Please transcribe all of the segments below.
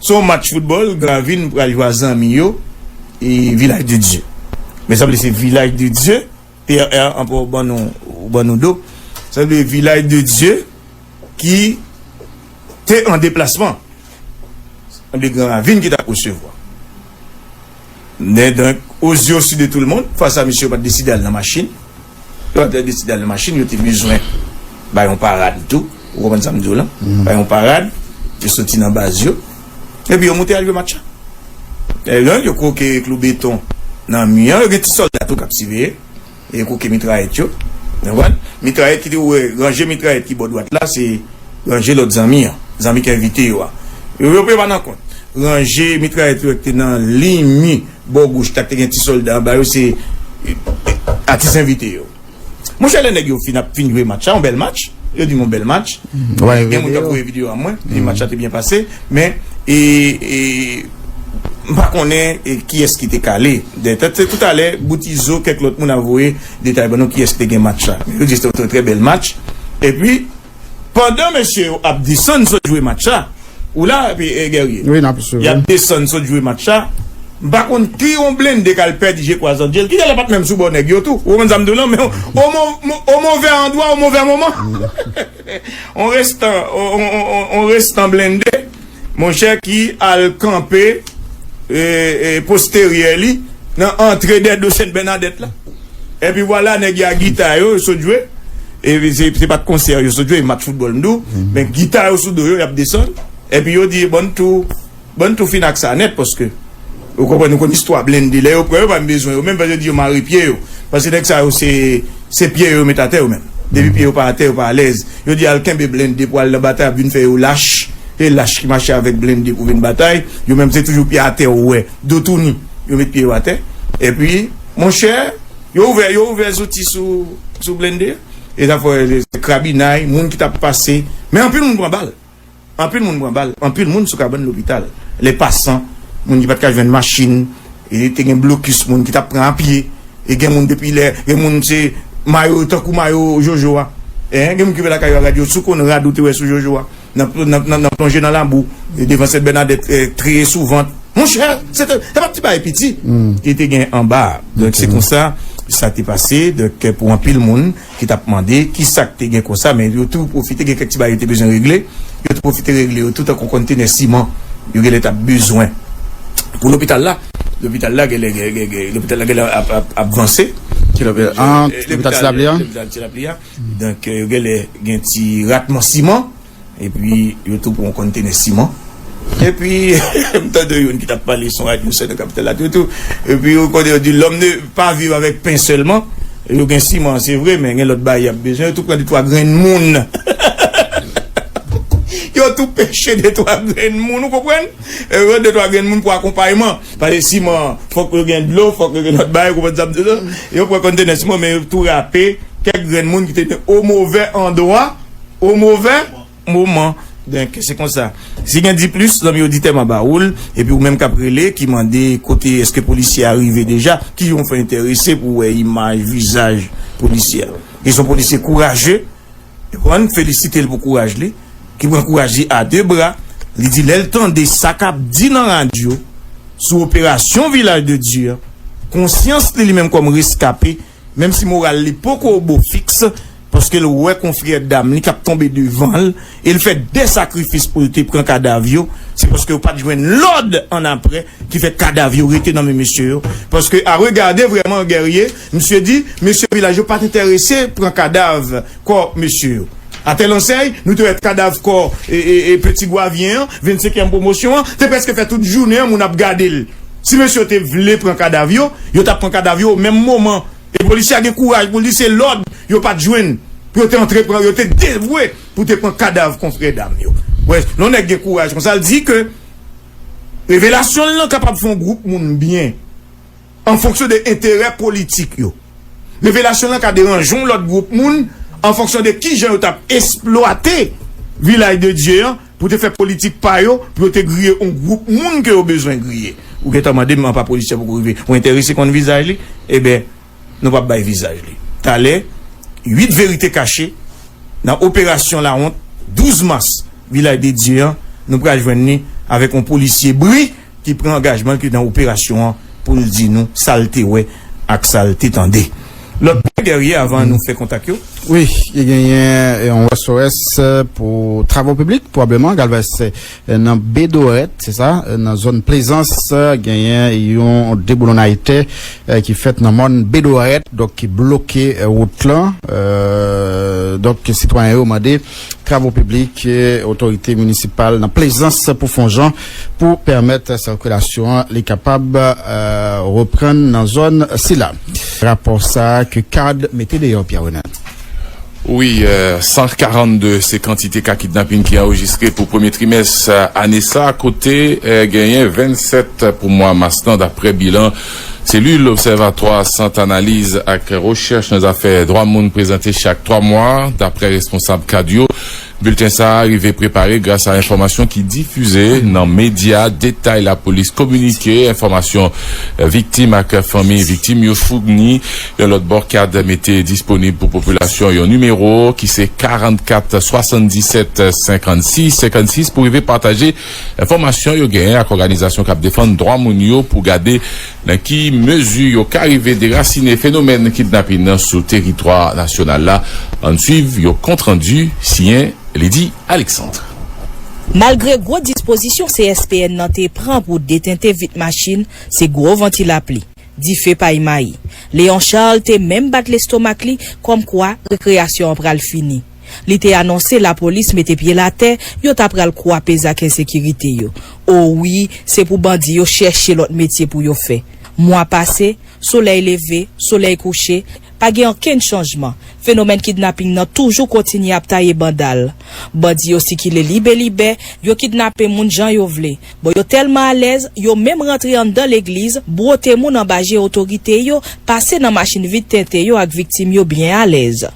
Se yon match foutbòl Gravin pral jwe a zanmi yo e Vilaj de Dye. Men sanble se Vilaj de Dye, PRR anpè ou ban nou ou ban nou do. Sanble Vilaj de Dye ki te an deplasman. Sanble Gravin ki t ap resevwa. Nè donk, o zye si de tou l mond, fas a misye yo pa t deside al nan machin. Pandan yo deside al nan machin, yo te bezwen bay yon parad tou. Ou konprann sa m di w lan? Bay yon parad. Yo soti nan baz yo. Epi yo moute al jwe match la. Lè yo yo kwoke klou beton nan mi an. Yo gen ti sòlda tou k ap siveye. E yo kwoke mitrayèt yo. Ou konprann? Mitrayèt ki te ou wè, ranje mitrayèt ki bò dwat la, se ranje lòt zanmi an. Zanmi k envite yo a. Yo pa nan kont. Ranje mitrayèt yo wè ki te nan liy mi. Bò goch la k te gen ti solda anba yo se atis envite yo. Monchè lè nèg yo fin ap fin jwe match la, yon bèl match, yo di m yon bèl match, gen moun k ap voye videyo a mwen, yo di match la te byen pase, men e m pa konnen kiyès ki te kale. Se toutalè Bout Izo kèk lòt moun ap voye detay ban nou kiyès ki te gen match la. Yo di se te yon trè trè bèl match epi. Pandan mesye yo ap desann sot jwe match la Ou la Guerrier? Wi, n ap swiv, wi Y ap desann sot jwe match la M pa konn ki yon blende k al pèdi je kwa Zandjel Kit alè pa t menm sou bò nèg yo tou Ou konprann sa m di w lan Men o o movè andwa o movè moman On restan On restan blende Monchè ki al kanpe posteryè li nan antre dè do Sen Bènadèt la. Epi vwala nèg y a gita yo sot jwe. Se pa t konsè yo sot jwe, match foutbòl m di w. Men gita yo sou do yo y ap desann. Epi yo di bon n tou fin ak sa nèt paske. Ou konprann ou konn istwa blende lè yo pran yo pa menm bezwen yo menm fè yo di yo mare pye yo paske nèg sa yo se se pye yo yo met atè yo menm depi pye yo pa atè yo pa alèz yo di al kenbe blende pou al nan batay ap vin fè yo lach e lach ki mache avèk blende pou vin batay yo menm se toujou pye atè ou wè do touni yo met pye yo atè epi monchè yo ouvè yo ouvè zouti sou sou blende e zafè krabinay moun ki tap pase men anpil moun pran bal. Anpil moun pran bal, anpil moun sou kabann lopital. Lè pasan, moun ki pat ka jwenn machin, te gen blokis moun ki tap pran a pye, e gen moun depi lè, gen moun se mayo yo tankou mayo Jojo a. Gen moun ki rive lakay yo a rad yo, si w konn rad ou te wè sou Jojo a, nan plonje nan labou, devan Sèt Bènadèt, treye sou vant. Monchè! Se te, se pat ti bagay piti ki te gen anba a. Donk se konsa sa te pase, donk pou anpil moun, ki t ap mande ki sa k te gen konsa men yo tou pwofite gen kèk ti bagay yo te bezwen regle, yo te pwofite regle yo tou tankou kontenè siman yo genlè t ap bezwen pou lopital la. Lopital la genlè lopital la genlè ap vanse. Ti lopita an lopital ti lapli a. Lopital ti lapli a donk yo genlè gen ti ratman siman. Epi yo tou pran kontene siman. Epi m tande youn ki t ap pale sou radyo sè nan kapital la tou tou. Epi ou konnen yo di lòm ne pa viv avèk pen sèlman. Yo gen siman se vre men gen lòt bagay y ap bezwen. Yo tou pran detwa grenn moun. Yo tou peche detwa grenn moun ou konprann. Yo pran detwa grenn moun pou akonpayman. Pase siman an fòk yo gen dlo, fòk yo gen lòt bagay ou konprann sa m di w la. Yo pran kontene siman men yo tou rape kèk grenn moun ki te o movè andwa. O movè moman donk se konsa. Si gen diplis zanmi oditè ma ba oul epi ou menm kap rele ki mande kote eske polisye a rive deja ki jan ou fè entèrese pou wè imaj vizaj polisye a e son polisye kouraje epi ann felisitel pou kouraj li ki pran kouraj li a 2 bra li di lèl tande sa kap di nan radyo sou operasyon vilaj de Dye an konsyans li li menm kòm reskape Menm si moral li poko au beau fixe, paske l wè konfrè dam li k ap tonbe devan l e l fè de sakrifis pou l te pran kadav yo, se paske yo pa t jwenn lòd annapre ki fè kadav yo rete nan men mesye yo. Paske a regade vrèman Guerrier, misye di mesye vilaj yo pa t enterese pran kadav kò mesye yo. A tèl ansèy, nou te wè kadav kò Petit Goavien an, 25 èm pwomosyon an, te prèske fè tout jounen an moun ap gade l. Si mesye yo te vle pran kadav yo, yo t ap pran kadav yo o menm moman. E polisye a gen kouraj pou l di se lòd yo pa t jwenn pou yo te antre pran. Yo te devwe pou te pran kadav konfrè dam yo. Wè, lè yon nèg gen kouraj konsa, l di ke revelasyon l lan kapab fè yon gwoup moun byen an fonksyon de enterè politik yo. Revelasyon l lan ka deranje yon lòt gwoup moun an fonksyon de kijan yo t ap esplwate Vilaj de Dye an. Pou te fè politik pa yo, pou yo te griye on gwoup moun ke yo bezwen griye. Ou gentan mande m apa polisye poko rive. Ou enterese konn vizaj li? Eben, nou pap bay vizaj li. Talè, 8 verite kache nan operasyon lawont 12 mas Vilaj de Dye an, nou pral jwenn li avèk on polisye bri. ki pran angajman l ki nan operasyon an pou l di nou sa l te wè ak sa l te tande. Lòt pwen Guerrier avan nou fè kontak yo. Wi, li genyen yon SOS pou travo piblik pwobleman galvanise nan Bedorèt, se sa, nan zòn Plezans genyen yon deboulonnay tè ki fèt nan mòn Bedorèt donk ki bloke wout lan donk sitwayen yo mande. Travo piblik, otorite minisipal nan Plezans pou fon jan pou pèmèt sirkilasyon an li kapab reprann nan zòn sila. Rapò sa a ke card mete deyò Pierre Renel. Wi, 142 se kantite ka kidnapin ki anrejistre pou premye trimès ane sa, kote genyen 27 pou mwa mas lan, daprè bilan. Selil Obsèvatwa Sant Analiz ak Rechèch nan Zafè Dwa Moun prezante chak twa mwa, daprè responsab kad yo. Bilten sa a rive prepare grasa enfòmasyon ki difize nan medya, detay lapolis kominike, enfòmasyon viktim ak fanmi viktim yo founi. Yon lòt bò, kad mete disponib pou popilasyon yon nimewo ki se 44 77 56 56 pou rive pataje enfòmasyon yo genyen ak òganizasyon k ap defann dwa moun yo pou gade nan ki mezi yo ka rive derasine fenomèn kidnapin nan sou teritwa nasyonal la. Ann suiv yon kont randi siyen Lydie Alexandre. Malgre gwo dispozisyon CSPN nan te pran pou detente vit machin, se gwo van ti lapli, dife pay mayi. Léon Charles te menm bat lestomak li kòmkwa rekreyasyon an pral fini. Li te anonse lapolis mete pye l atè, yo ta pral kwape zak ensekirite yo. O wi, se pou bandi yo chèche lòt metye pou yo fè. Mwa pase, solèy leve, solèy kouche, pa gen okenn chanjman, fenomèn kidnaping nan toujou kontinye ap taye banda l. Bandi yo sikile libe libè, yo kidnape moun jan yo vle. Bon yo tèlman alèz, yo menm rantre anndan legliz, bwote moun anba je otorite yo, pase nan machin vide tenten yo ak viktim yo byen alèz.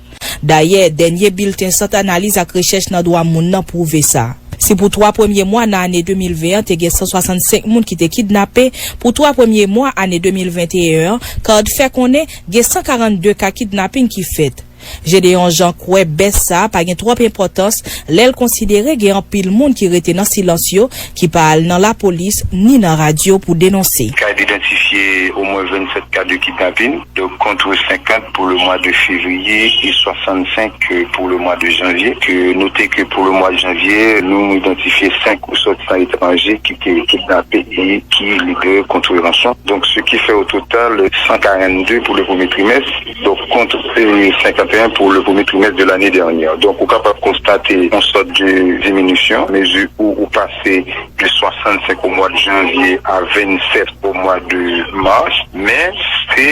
Dayè, dènye bilten Sant Analiz ak Rechèch nan Dwa Moun nan pwouve sa. Si pou twa premye mwa nan ane 2020 an te gen 165 moun ki te kidnape, pou twa premye mwa ane 2021 an, card fè konnen gen 142 ka kidnaping ki fèt. Gédéon Jean kwè bès sa a pa gen twòp enpòtans lè l konsidere gen anpil moun ki rete nan silans yo, ki pa al nan lapolis ni nan radyo pou denonse. CAID idantifye omwen 27 ka de kidnapin, donk kontre 50 pou le mwa de fevriye e 65 pou le mwa de janvye. Note ke pou le mwa de janvye, nou idantifye 5 resòtisan etranje ki te kidnape e ki libere kontre ranson. Donk se ki fè ototal 142 pou le premye trimès. Donk kont se 51 pou le premye trimès de lane dènyè. Donk ou kapab konstate yon sòt de diminisyon mezi ou ou pase de 65 o mwa de janvye a 27 o mwa de mas. Men se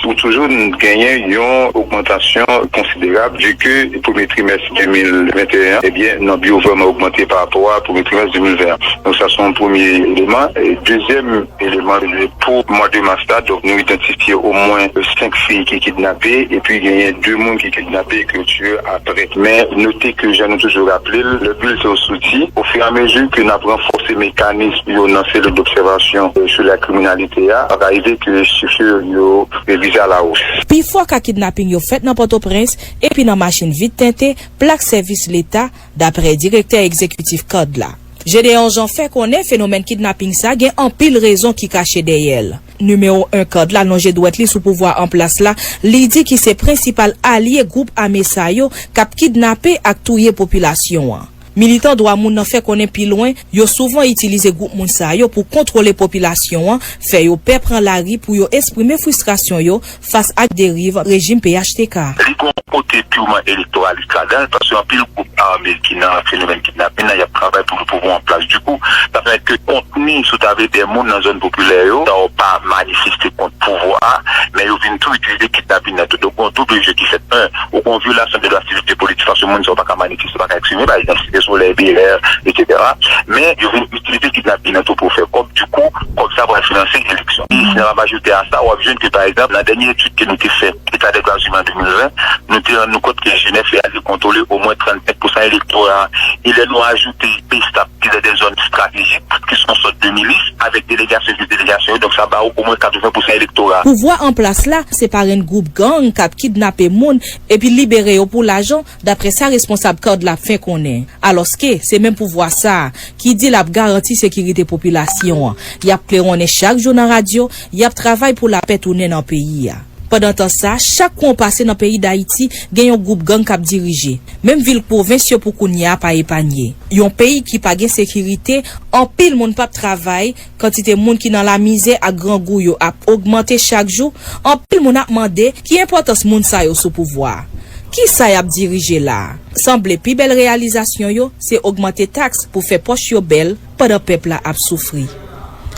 ou toujou genyen yon ogmantasyon konsiderab vi ke premye trimès 2021 an ebyen nòb yo vrèman ogmante parapò a premye trimès 2020 an. Donk sa se yon premye eleman. Dezyèm. Eleman rive pou mande mas la, donk nou idantifye omwen 5 fi ki kidnape epi genyen 2 moun ki kidnape ke yo tiye aprè. Men note ke jan nou toujou raple l, lè bilten yo soti, ofiramezi ke n ap ranfòse mekanism yo nan selil dobsèvasyon sou la kriminalite a, ap arive ke chifr yo revize alawos. Pifò ka kidnaping yo fèt nan Pòtoprens epi nan machin vit tente plak sèvis leta, dapre direktè egzekitif card la. Gédéon Jean fè konnen fenomèn kidnaping sa gen anpil rezon ki kache dèyè l. Nimewo 1 card la lonje dwèt li sou pouvwa an plas la, li di ki se prensipal alye gwoup ame sa yo k ap kidnape ak touye popilasyon an. Militan dwa moun nan fè konnen pi lwen, yo souvan itilize gwoup moun sa yo pou kontwole popilasyon an, fè yo pè pran lari pou yo esprime fristrasyon yo, fas ak deriv rejim phtk. Li gen yon kote purement electoraliste ladan l, paske anpil gwoup arme ki nan fenomèn kidnapin nan y ap travay pou yon pouvwa an plas. Dikou, sa fè ke kontni, si w ta vle, dè moun nan zòn popilè yo, sa yo pa manifeste kont pouvwa a, men yo vin tou itilize kidnapin nan tou. Donk gen yon double jeu ki fèt. 1, ou gen yon vyolasyon de dwa sivik e politik, paske moun sa yo pa ka manifeste, pa ka eksprime, pa egzanp, Site Solèy, BLR, etc. Men, yo vin itilize kidnapin nan tou pou yo fè kòb. Dikou. Kòb sa pral finanse eleksyon. E si n ap ajoute a sa, w ap jwenn ke pa egzanp, nan dènye etid ke nou te fè, État des droits humains 2020, nou te rann nou kont ke jenès la te kontwole omwen 35 pousan elektora a. E lè nou ajoute Pstap ki lè de zòn stratejik, ki son sòt de milis, avèk delegasyon jis delegasyon yo, donk sa ba ou omwen 80 pousan elektora. Pouvwa an plas la, se parenn gwoup gang k ap kidnape moun epi libere yo pou lajan, Daprè sa responsab card la fè konnen, alòske se menm pouvwa sa a ki di l ap garanti sekirite popilasyon an, y ap klewonnen chak jou nan radyo, y ap travay pou lapè tounen nan peyi a. Pandantan sa, chak kwen w pase nan peyi Dayiti, gen yon gwoup gang k ap dirije. Menm vil pwovens yo pou kounya a pa epanye. Yon peyi ki pa gen sekirite, anpil moun p ap travay, Kantite moun ki nan lamizè ak grangou yo ap ogmante chak jou, anpil moun ap mande ki enpòtans moun sa yo sou pouvwa a. Kisa y ap dirije la a? Sanble pi bèl reyalizasyon yo se ogmante taks pou fè pòch yo bèl pandan pèp la ap soufri.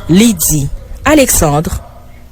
Lydie Alexandre.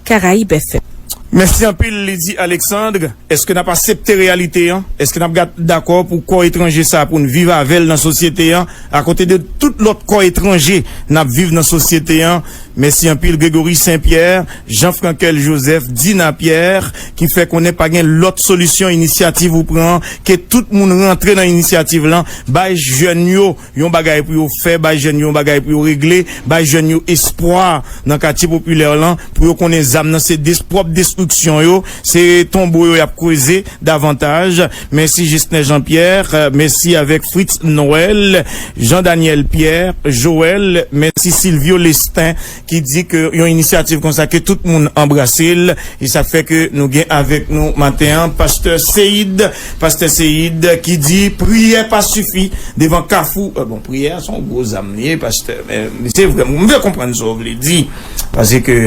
Caraïbes FM. Mèsi anpil Lydie Alexandre. Eske n ap asepte reyalite an? Eske n ap gad dakò pou kò etranje sa pou n viv avè l nan sosyete an akote de tout lòt kò etranje n ap viv nan sosyete an? Mèsi anpil Grégory Saint Pierre, Jean Frankel Joseph, Dina Pierre ki fè konnen pa gen lòt solisyon inisyativ ou pran ke tout moun rantre nan inisyativ lan bay jèn yo Yon bagay pou yo fè, bay jèn yo yon bagay pou yo regle, bay jèn yo espwa nan katye popilè lan pou yo konnen zam nan se des pwòp destriksyon yo, se tonbo yo y ap kreze davantaj. Mèsi Jesner Jean Pierre, mèsi avèk Fritz Noël, Jean Daniel Pierre, Joël, mèsi Sylvio Lestin. ki di ke yon inisyativ konsa ke tout moun anbrase l e sa fè ke nou gen avèk nou maten an pastè Seid, pastè Seid ki di priyè pa sifi devan kafou, bon priyè a se yon gwo zam li ye pastè men se vre m vle konprann sa w vle di pase ke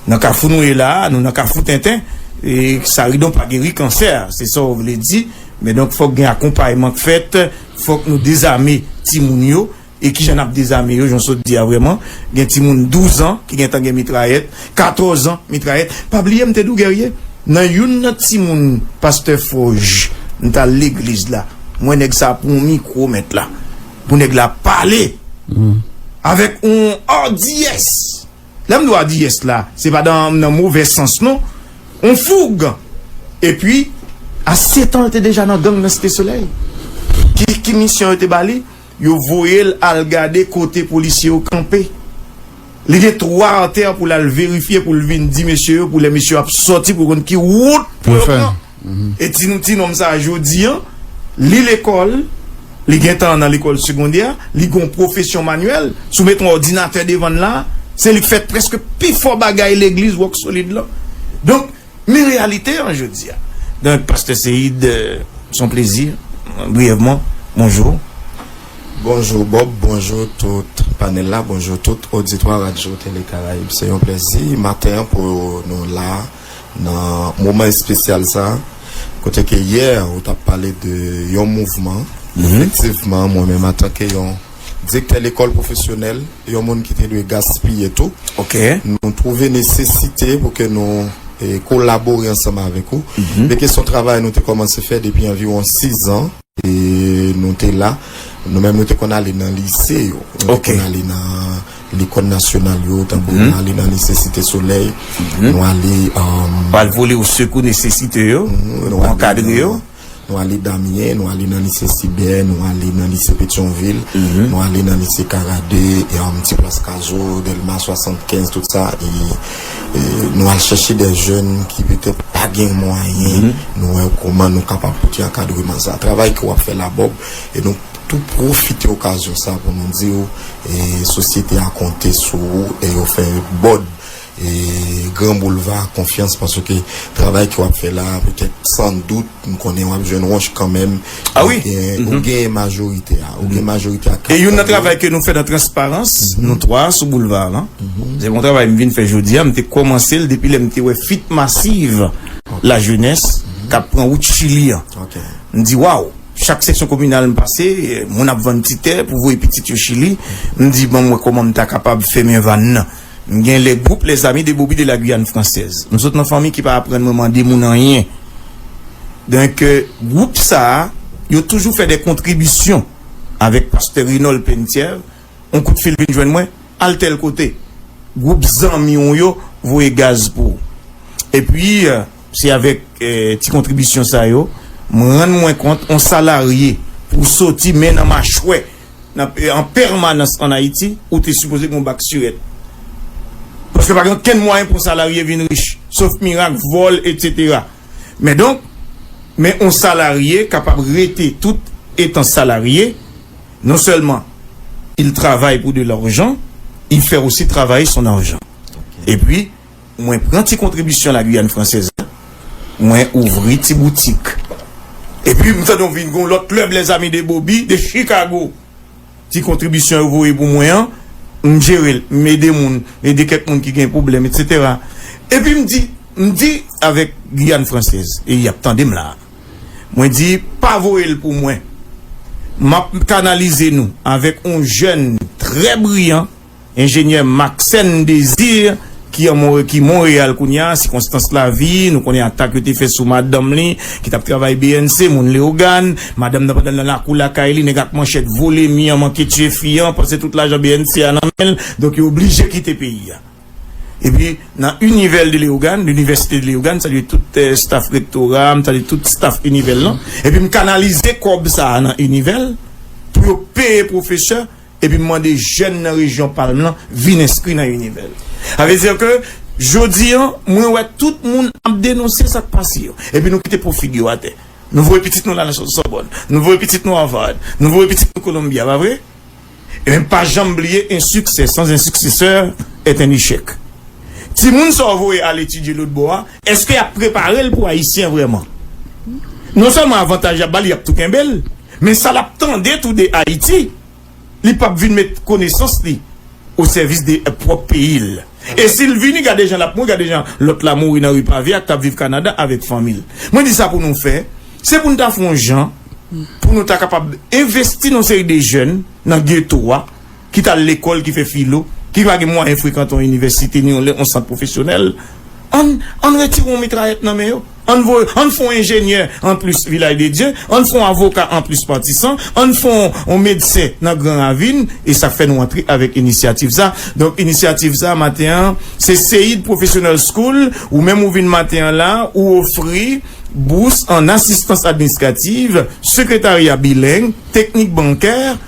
nan kafou nou ye la a nou nan kafou tenten e saridon pa geri kansè se sa w vle di men donk fòk gen akonpayman k fèt fòk nou dezame timoun yo E kijan nap dezame yo jan w sot di a vrèman gen timoun 12 ans ki gentan gen mitrayèt 14 ans mitrayèt pa bliye m te di w Guerrier nan youn nan timoun pastè Forge m tal legliz la m wè nèg sa pran yon mikro mèt la pou nèg la pale avèk yon ardiyès lè m di w ardiyès la se pa dan nan movè sans non yon foug epi a 7 ans l te deja nan gang nan Site Solèy ki misyon yo te ba li. Yo voye l al gade kote polisye yo kanpe. Li gen twa atè pou l al verifye pou l vin di mesye yo pou lè mesye yo ap sòti pou yo konn ki wout pou yo pran. E di nou tinonm sa a jodi an, li lekòl, li gen tan nan lekòl segondè, li gen yon pwofesyon manyèl, si w met yon òdinatè devan l la a, se li k fè prèske pifò bagay legliz Rock Solid lan. Donk. Men reyalite an jodi a. Donk Pastè Seïde, s on plezi, briyèvman, bonjou. Bonjou Bob, bonjou tout panèl la, bonjou tout oditwa Radyo Tele Karayib. Se yon plezi maten an pou nou la a nan moman espesyal sa a, kote ke yè ou t ap pale de yon mouvman, efektivman mwen menm antanke yon. Direktè lekòl pwofesyonèl, yon moun ki te dwe gaspiye tou. Nou twouve nesesite pou ke nou kolabore ansanm avèk ou. Beke son travay nou te kòmanse fè depi anviwon sizan. Nou te la. Nou menm nou te konn ale nan lise yo. Nou te konn ale nan lekòl nasyonal yo. Tankou nou ale nan lise Site Solèy. Nou ale. Pral vole ou sekou nesesite yo. Nou ankadre yo. Nou ale Damyen, nou ale nan lise Sibè, nou ale nan lise Petyonvil, nou ale nan lise Karade, ti plas Kazo, Dèlma 75, tout sa. Nou al chèche de jèn ki petèt pa gen mwayen, nou wè kouman nou kapab pote ankadreman sa. Travay ke w ap fè la Bòb, e nou tou pwofite okazyon sa pou nou di w sosyete a konte sou ou e yo fè Bòd. Gran boulva konfyans paske travay ke wap fè la petèt san dout m konnen wap jwenn wonch kanmenm ou gen majorite a ou gen majorite a e youn nan travay ke nou fè nan transparans nou 3 sou boulva a lan se yon travay m vin fè jodi a m te kòmanse l depi lè m te wè fit masiv la jenès kap pran wout chili an m di waw chak seksyon kominal m pase moun ap vann ti tè pou voye pitit yo chili m di banm wè kòman m ta kapab fèmen vann nan. M gen le groupe les amis de Boby de la Guyane française. M sot nan fanmi ki pa aprann mwen mande moun anyen. Donk groupe sa yo toujou fè de kontribisyon avèk Pastè Renold Penthièvre. On kout fil vin jwenn mwen, al tèl kote. Groupe zanmi w yo voye gaz pou w. E pi se avèk ti kontribisyon sa yo m rann mwen kont on salarye pou w soti men nan machwè an pèmanans an Ayiti, ou te sipoze gen yon bak sirèt. Paske pa gen okenn mwayen pou yon salarye vin rich, sof mirak, vòl, etsetera. Men donk, men yon salarye kapab rete tout etan salarye, non sèlman il travay pou de larjan, il fè osi travaye son arjan. Epwi, Mwen pran ti kontribisyon La Guyane Française la, mwen ouvri ti boutik. Epi m tande yon vin gen yon lòt klèb Les Amis de Boby de Chicago. Ti kontribisyon yo voye pou mwen an, m jere l, m ede moun, m ede kèk moun ki gen pwoblèm etsetera. Epi m di, m di avèk Guyane Française, e y ap tande m la a, mwen di pa voye l pou mwen, m ap kanalize nou avèk yon jèn trè briyan, Enjenyè Maxène Désir, ki an Mon ki Monreyal kounye a, sikonstans lavi, nou konnen atak yo te fè sou madanm li, ki t ap travay bnc, moun Leyogàn. Madanm nan pandan l nan lakou lakay li, nèg ak manchèt vole mi an, manke tiye fi an, panse tout lajan bnc a nan men l, donk yo oblije kite peyi a. Epi, nan Univèl de Leyogàn, L'Université de Léogâne, m salye tout staf rektora a, m salye tout staf Univèl lan. Epi m kanalize kòb sa a nan Univèl, pou yo peye pwofesè. epi m mande jèn nan rejyon Palm lan vin enskri nan Univel. Sa vle di ke jodi an, mwen wè tout moun ap denonse sa k pase yo, epi nou kite po figi yo atè. Nou voye pitit nou la nan Sòbòn, nou voye pitit nou Harvard, nou voye pitit nou Columbia, pa vre? Ebyen m pa janm bliye un succès sans un successeur est un échec. Timoun sa w voye al etidye lotbò a, èske y ap prepare l pou Ayisyen vrèman? Non sèlman avantaj y ap ba l, y ap tou kenbe l. Men sa lap tande tou de Ayiti, li pap vin met konesans li o sèvis de pwòp peyi l. E si l vini, gade jan lap mouri, gade jan lòt la mouri nan ri pave a, kap viv Kanada avèk fanmi l. Mwen di sa pou nou fè, se pou nou ta fon jan pou nou ta kapab envesti nan yon seri de jèn nan geto a, ki t al lekòl, ki fè filo, ki pa gen mwayen frekante yon inivèsite ni yon sant pwofesyonèl, ann ann retire yon mitrayèt nan men yo, ann voye ann fè yon enjenyè anplis Vilay de Dye, ann fè yon avoka anplis Matisan, ann fè yon medsen nan Gran Ravin, e sa k fè nou antre avèk inisyativ sa. Donk inisyativ sa maten an se Seid Professional School, ou menm ou vin maten an la, ou ofri bous ann asistans administrativ, sekretarya bileng, teknik bankè,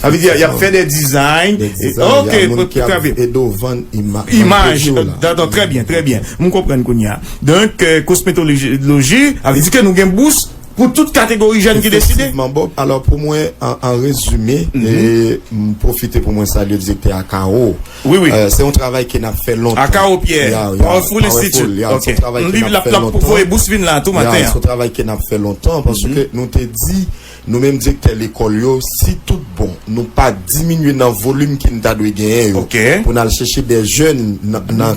Sa vle di y ap fè dè dizay. Dè dizay, y a moun ki ap ede w vann imaj. Imaj, dadò, trè byen, trè byen. M konprann kounye a. Donk, kosmetoloji, sa vle di ke nou gen bous pou tout kategori jèn ki deside? Efektivman, Bob. Alò, pou mwen, an rezime, m pwofite pou mwen salye direktè Akao. Wi, wi. Se yon travay ke n ap fè lontan. Akao Pierre. Ya, ya. Powerful Institute. Ya, ya. Se yon travay ke n ap fè lontan. M li, l ap voye bous vin la a tou maten an. Ya, se yon travay ke n ap fè lontan, paske nou te di. Nou menm direktè lekòl yo, si tout bon, nou pa diminye nan volim ke n ta dwe genyen yo, pou n al chèche dè jèn nan.